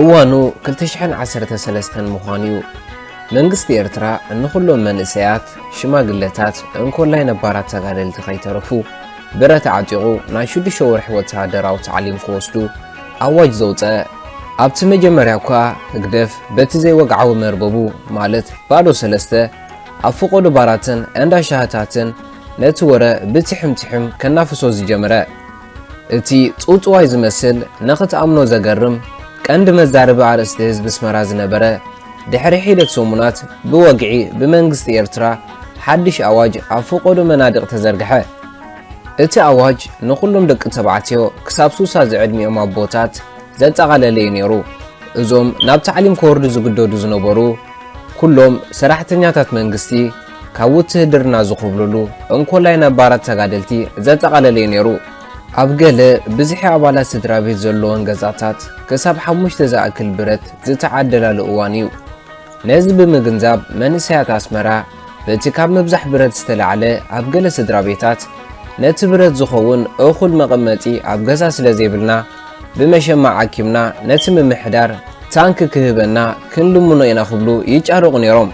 እዋኑ 2013 ምዃኑ እዩ። መንግስቲ ኤርትራ ንኹሎም መንእሰያት፣ ሽማግለታት፣ እንኮላይ ነባራት ተጋደልቲ ከይተረፉ ብረት ኣዕጢቑ ናይ ሽዱሽተ ወርሒ ወተሃደራዊ ታዕሊም ክወስዱ ኣዋጅ ዘውፀአ ኣብቲ መጀመርያ እኳ ህግደፍ በቲ ዘይወግዓዊ መርበቡ ማለት ባዶ ሰለስተ ኣብ ፈቖዶ ባራትን እንዳ ሻህታትን ነቲ ወረ ብትሕም ትሕም ከናፍሶ ዝጀመረ። እቲ ጽውጽዋይ ዝመስል ንኽትኣምኖ ዘገርም ቀንዲ መዛረቢ ኣርእስቲ ህዝቢ ኣስመራ ዝነበረ ድሕሪ ሒደት ሰሙናት ብወግዒ ብመንግስቲ ኤርትራ ሓድሽ ኣዋጅ ኣብ ፈቖዶ መናድቕ ተዘርግሐ። እቲ ኣዋጅ ንኹሎም ደቂ ተባዕትዮ ክሳብ ሱሳ ዝዕድሚኦም ኣቦታት ዘጠቓለለ እዩ ነይሩ። እዞም ናብ ታዕሊም ክወርዱ ዝግደዱ ዝነበሩ፣ ኩሎም ሰራሕተኛታት መንግስቲ ካብ ውትህድርና ዝኹብልሉ፣ እንኮላይ ነባራት ተጋደልቲ ዘጠቓለለ እዩ ነይሩ። ኣብ ገለ ብዝሒ ኣባላት ስድራቤት ዘለወን ገዛታት ክሳብ ሓሙሽተ ዝኣክል ብረት ዝተዓደላሉ እዋን እዩ። ነዚ ብምግንዛብ መንእሰያት ኣስመራ በቲ ካብ ምብዛሕ ብረት ዝተላዕለ ኣብ ገለ ስድራቤታት ነቲ ብረት ዝኸውን እኹል መቐመጢ ኣብ ገዛ ስለዘይብልና፣ ብመሸማዕ ኣኪብና ነቲ ምምሕዳር ታንኪ ክህበና ክንልምኖ ኢና ክብሉ ይጫረቑ ነይሮም።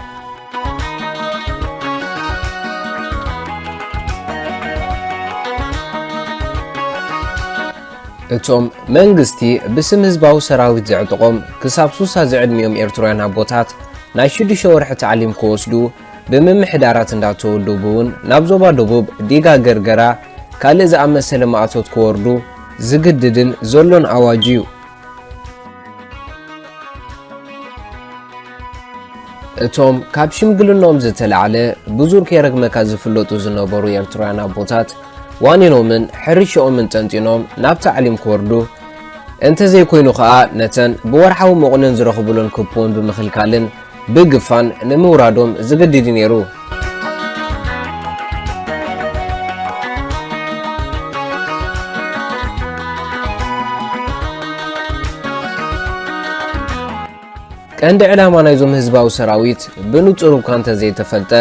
እቶም መንግስቲ ብስም ህዝባዊ ሰራዊት ዘዕጥቖም ክሳብ ሱሳ ዝዕድሚኦም ኤርትራውያን ኣቦታት ናይ ሽዱሽተ ወርሒ ታዕሊም ክወስዱ ብምምሕዳራት እንዳተወደቡ'ውን ናብ ዞባ ደቡብ ዲጋ ገርገራ ካልእ ዝኣመሰለ ማእቶት ክወርዱ ዝግድድን ዘሎን ኣዋጅ'ዩ። እቶም ካብ ሽምግልንኦም ዝተላዕለ ብዙር ከይረግመካ ዝፍለጡ ዝነበሩ ኤርትራውያን ኣቦታት ዋኒኖምን ሕርሽኦምን ጠንጢኖም ናብ ታዕሊም ክወርዱ እንተዘይኮይኑ ከኣ ነተን ብወርሓዊ መቑነን ዝረኽቡለን ኩፖን ብምኽልካልን ብግፋን ንምውራዶም ዝግድድ'ዩ ነይሩ። ቀንዲ ዕላማ ናይዞም ህዝባዊ ሰራዊት ብንጹር እኳ እንተዘይተፈልጠ፣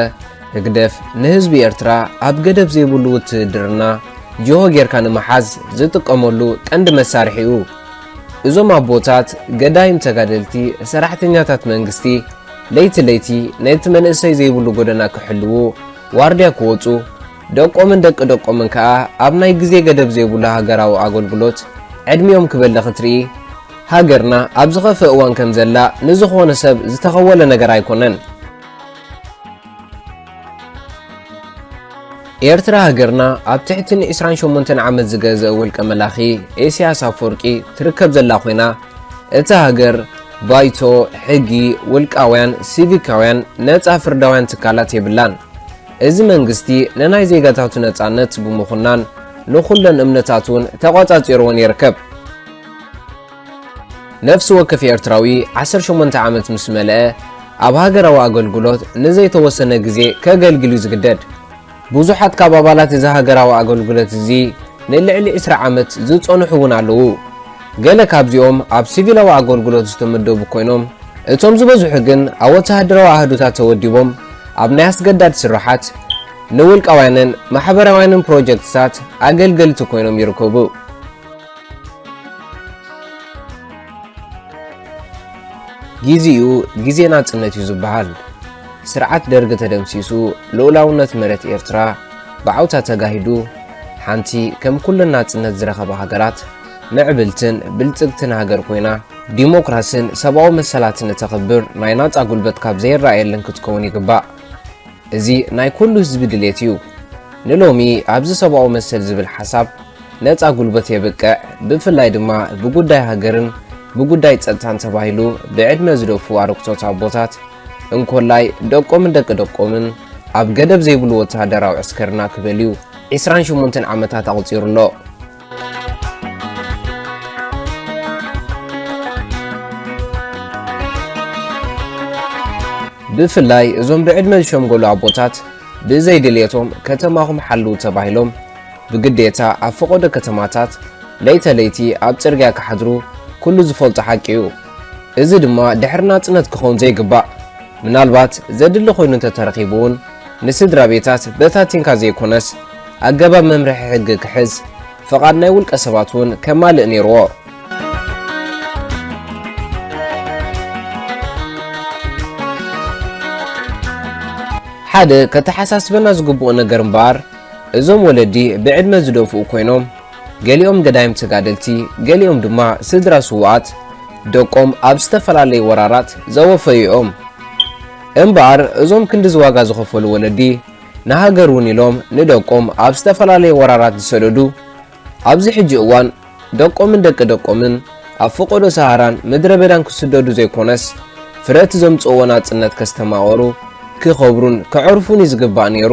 ህግደፍ ንህዝቢ ኤርትራ ኣብ ገደብ ዘይብሉ ውትህድርና ጅሆ ጌርካ ንምሓዝ ዝጥቀመሉ ቀንዲ መሳርሒ'ዩ። እዞም ኣቦታት ገዳይም ተጋደልቲ ሰራሕተኛታት መንግስቲ ለይቲ ለይቲ ነቲ መንእሰይ ዘይብሉ ጎደና ክሕልዉ ዋርድያ ክወጹ ደቆምን ደቂ ደቆምን ከኣ ኣብ ናይ ግዜ ገደብ ዘይብሉ ሃገራዊ ኣገልግሎት ዕድሚኦም ክበሊ ክትርኢ ሃገርና ኣብ ዝኸፍእ እዋን ከምዘላ ንዝኾነ ሰብ ዝተኸወለ ነገር ኣይኮነን። ኤርትራ ሃገርና ኣብ ትሕቲ ንዒስራን ሸሞንተን ዓመት ዝገዘእ ውልቀ መላኺ ኤስያስ ኣፎርቂ ትርከብ ዘላ ኮይና እታ ሃገር ባይቶ ሕጊ ውልቃውያን ሲቪካውያን ነጻ ፍርዳውያን ትካላት የብላን። እዚ መንግስቲ ንናይ ዜጋታቱ ነጻነት ብምኹናን ንኹለን እምነታት እውን ተቖጻጺርወን ይርከብ። ነፍሲ ወከፍ ኤርትራዊ ዓሰርተ ሸሞንተ ዓመት ምስ መልአ ኣብ ሃገራዊ ኣገልግሎት ንዘይተወሰነ ግዜ ከገልግል እዩ ዝግደድ። ብዙሓት ካብ ኣባላት እዚ ሃገራዊ ኣገልግሎት እዚ ንልዕሊ ዕስራ ዓመት ዝጸንሑ እውን ኣለዉ። ገለ ካብዚኦም ኣብ ሲቪላዊ ኣገልግሎት ዝተመደቡ ኰይኖም፣ እቶም ዝበዝሑ ግን ኣብ ወተሃደራዊ ኣሃዱታት ተወዲቦም ኣብ ናይ ኣስገዳድ ስርሓት፣ ንውልቃውያንን ማሕበራውያንን ፕሮጀክትታት ኣገልገልቲ ኰይኖም ይርከቡ። ጊዚኡ ጊዜ ናጽነት እዩ ዝበሃል። ስርዓት ደርጊ ተደምሲሱ ልኡላውነት መሬት ኤርትራ ብዓውታ ተጋሂዱ ሓንቲ ከም ኩለን ናጽነት ዝረኸባ ሃገራት ምዕብልትን ብልጽግትን ሃገር ኮይና ዲሞክራስን ሰብኣዊ መሰላትን እተኽብር ናይ ናጻ ጉልበት ካብ ዘይረኣየለን ክትከውን ይግባእ። እዚ ናይ ኩሉ ህዝቢ ድሌት እዩ። ንሎሚ ኣብዚ ሰብኣዊ መሰል ዝብል ሓሳብ ነጻ ጉልበት የብቅዕ ብፍላይ ድማ ብጉዳይ ሃገርን ብጉዳይ ጸጥታን ተባሂሉ ብዕድመ ዝደፍኡ ኣረግቶት ኣቦታት እንኮላይ ደቆምን ደቂ ደቆምን ኣብ ገደብ ዘይብሉ ወተሃደራዊ ዕስከርና ክበልዩ ዒስራን ሸሞንተን ዓመታት ኣቑጺሩ ኣሎ። ብፍላይ እዞም ብዕድመ ዝሸምገሉ ኣቦታት ብዘይ ድልየቶም ከተማኹም ሓልው ተባሂሎም ብግዴታ ኣብ ፈቐዶ ከተማታት ለይተ ለይቲ ኣብ ጽርግያ ክሓድሩ ኩሉ ዝፈልጦ ሓቂ እዩ። እዚ ድማ ድሕሪ ናጽነት ክኸውን ዘይግባእ ምናልባት ዘድሊ ኮይኑ እንተተረኺቡ እውን ንስድራ ቤታት በታቲንካ ዘይኮነስ ኣገባብ መምርሒ ሕጊ ክሕዝ ፍቓድ ናይ ውልቀ ሰባት እውን ከማልእ ነይርዎ። ሓደ ከተሓሳስበና ዝግብኦ ነገር እምበኣር እዞም ወለዲ ብዕድመ ዝደፍኡ ኮይኖም ገሊኦም ገዳይም ተጋደልቲ ገሊኦም ድማ ስድራ ስውኣት ደቆም ኣብ ዝተፈላለዩ ወራራት ዘወፈዩ እዮም። እምበኣር እዞም ክንዲ ዝዋጋ ዝኸፈሉ ወለዲ ንሃገር ውን ኢሎም ንደቆም ኣብ ዝተፈላለየ ወራራት ዝሰደዱ ኣብዚ ሕጂ እዋን ደቆምን ደቂ ደቆምን ኣብ ፈቆዶ ሰሃራን ምድረ በዳን ክስደዱ ዘይኮነስ ፍረ እቲ ዘምጽእዎ ናጽነት ከስተማቕሩ ክኸብሩን ከዕርፉን እዩ ዝግባእ ኔሩ።